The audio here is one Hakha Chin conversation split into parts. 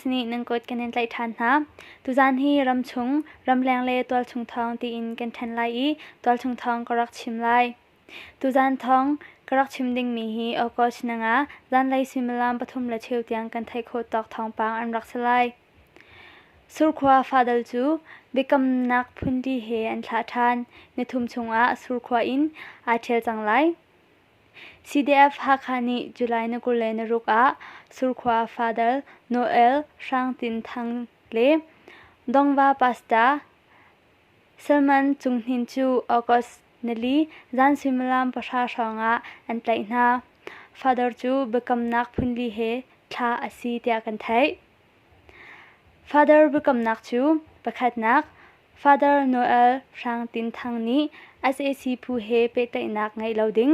nih nan kut kan in tlaih ṭhan hna. Tuzaan hi ram chung, ramleng le tualchung thawng tiin kan ṭhen lai i tualchung thawng ka rak chim lai. Tuzaan thawng ka rak chim dingmi hi August nanga zanlei suimilam pathum le cheu tiang kan theih khawh tawk thawngpang an rak si lai. Surkhua fadal cu biakamnak phunti he an thlah ṭhan. Ni thum chungah surkhua in aa ṭhial cang lai. CDF-Hakha nih July ni kul le naruk ah surkhua fadal Noel Hrang Tin Thang le Dongva Pasta Salman Cung Hnin cu August nili zan suimilam pahra hrawngah an tlaih hna. Fadal cu biakamnak phunli he thlah a si tiah kan theih. Father biakamnak cu pakhatnak Father Noel Hrang Tin Thang nih sac phu he pehtlaihnak ngeih lo ding,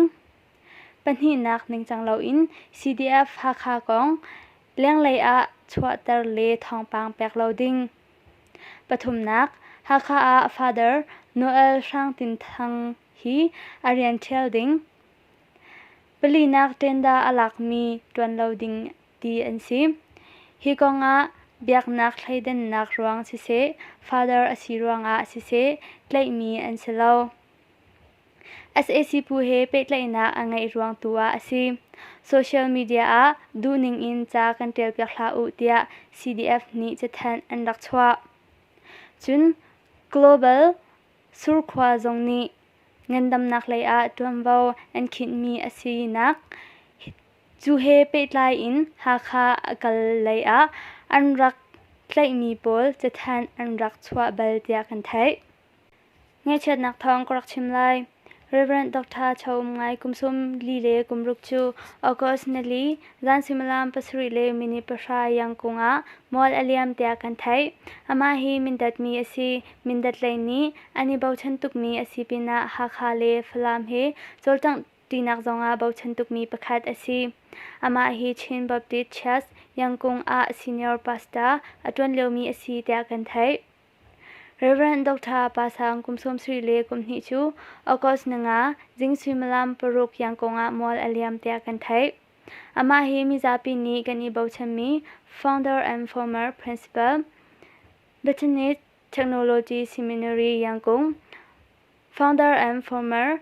pahnihnak ningcang loin CDF Hakha kong lenglei ah chuahter le thawngpang pek lo ding, pathumnak Hakha ah Father Noel Hrang Tin Thang hi a rian ṭhial ding, palinak tenda a lakmi ṭuan lo ding. ti an si. Hi kongah biaknak thleidannak ruang siseh, father a si ruangah siseh tlaihmi an si lo. SAC phu he pehtlaihnak a ngeih ruang tu ah a si. Social media ah duhning in ca kan ṭialpiak hlah u tiah CDF nih cathanh an rak chuah. Cun Global surkhua zong nih ngandamnak lei ah ṭuanvo an khinhmi a sinak Cu he pehtlai in Hakha a kal lei ah an rak tlaihmi pawl cathanh an rak chuah bal tiah kan theih. Ngaihchiatnak thawng ka rak chim lai. Reverend Dr. Cho Um Ngai kum sum li le kum ruk cu August ni li zan suimilam pasarih le minute pahra iang kung ah mual a liam tiah kan theih. Amah hi mindatmi a si. Mindat lei nih an i bochan tukmi a si pinah Hakha le Falam hi cawlcangh tinak zongah bochan tukmi pakhat a si. Amah hi Chin Baptist Church Yangkung ah senior pastor a ṭuan liomi a si tiah kan theih. Reverend Dr. Pa Sang kum sawmsarih le kum hnih cu August nanga zing suimilam paruk Yangkung ah mual a liam tiah kan theih. Amah hi mizapi nih kan i bochanmi founder and former principal Bethany Technology Seminary Yangkung, founder and former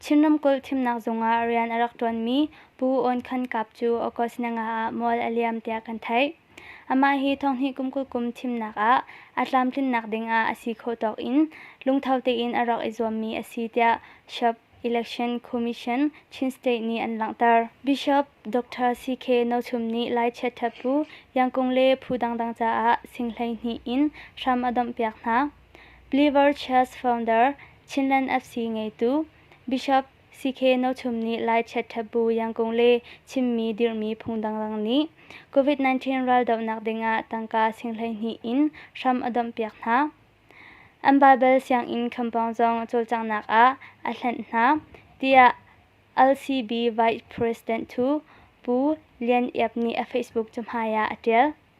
Chin ramkulh thimnak zungah rian a rak ṭuanmi Pu Awn Khan Kap cu August ni nga ah mual a liam tiah kan theih. Amah hi thonghnih kum kul kum thimnak ah a tlamtlinnak dingah a si khawh tawk in lungtho tein a rak i zuammi a si tiah Sub Election Commission Chin State nih an langhter. Bishop Dr. CK No Chum nih Lai chiatthat bu, Yang Kung le phu dangdang caah sing hleihnih in hram a domhpiak hna. Liverchurch founder, Chinland FC ngeitu Bishop CK Nothum nih Lai chiaṭhat bu yangkung le chimmi dirhmi phung dangdang nih COVID-19 raldohnak dingah tangka sing hleihnih in hram a domhpiak hna. An Baibal sianginn khampawng zong cawlcanghnak ah a hlenh hna, tiah LCB Vice President Pu Lian Iap nih a Facebook cahmai ah a ṭial.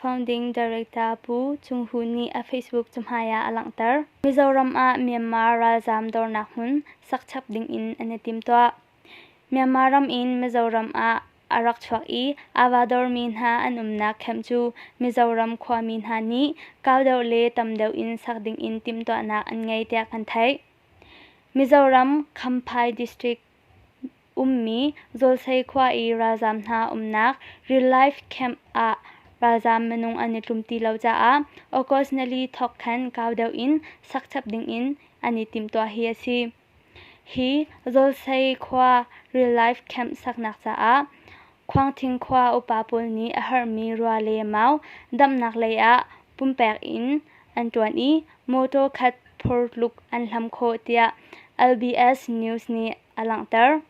founding director Pu Cung Hu nih a Facebook cahmai ah a langhter. Mizoram ah Myanmar ralzaam dornak hmun sak chap ding in an i timtuah. Myanmar ram in Mizoram ah a rak chuak i ava dormi hna an umnak camp cu Mizoram khuami hna nih kau deuh le tam deuh in sak ding in timtuahnak an ngei tiah kan theih. Mizoram Khamphai District ummi Zawlsei khua i ralzaam hna umnak Relief Camp ah ralzaam minung an i tlum ti lo caah August ni li thawk khan kau deuh in sak chap dingin an i timhtuah hi a si. Hi Zawlsei khua Relief Camp saknak caah Khuangthing khua upa pawl nih a herhmi rua le mau damnak lei ah pumpek in an ṭuan i mawṭaw khat phurtluk an hlam khawh tiah LBS News nih a langhter.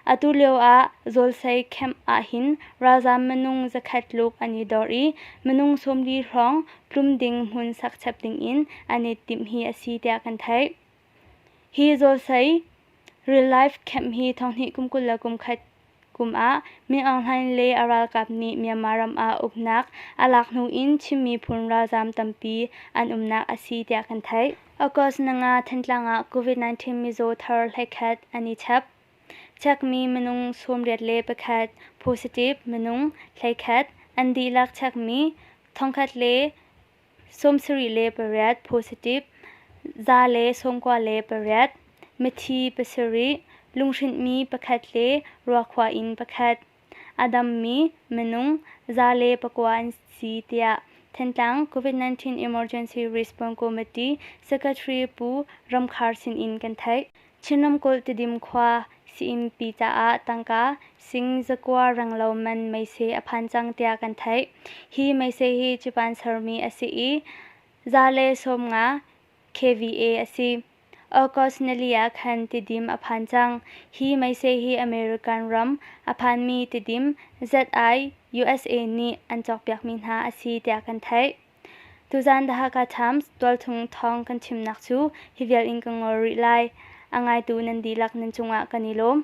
Atu lioah Zawlsei camp ahhin ralzaam minung zakhat tluk an i dor i minung sawmli hrawng plum ding hmun sakchep dingin an i timh hi a si tiah kan theih. Hi Zawlsei real life camp hi thonghnih kum kul le kum khat Kum ah Ming Aung Hlaing le a ralkap nih Myanmar ram ah uknak a lak hnu in Chinmi phun ralzaam tampi an umnak a si tiah kan theih. August nanga Thantlang ah COVID-19 mizaw thar hlekhat an i chep. Chekmi minung sawmriat le pakhat positive minung hlekhat an dihlak chekmi thongkhat le sawmsarih le pariat positif, za le sawmkua le pariat, mithi pasarih, lunghrinhmi pakhat le ruakhua in pakhat, a dammi minung za le pakua an si tiah Thantlang COVID-19 Emergency Response Committee Secretary Pu Ram Khar sinin kan theih. Chin ramkulh Tidim khua Sii-innpi caah tangka sing zakua ranglo man meise a phan cang tiah kan theih. Hi meise hi Japan sermi a si i za le sawm nga kVA a si. August ni li ah khan Tidim a phan cang. Hi meise hi American ram a phanmi Tidim ZI USA nih an cawkpiakmi hna a si tiah kan theih. Tuzaan The Hakha Times tualthung thawng kan chimnak cu hi vial in ka ngol rih lai. A ngaitu nan dihlak nan cungah kan i lawm.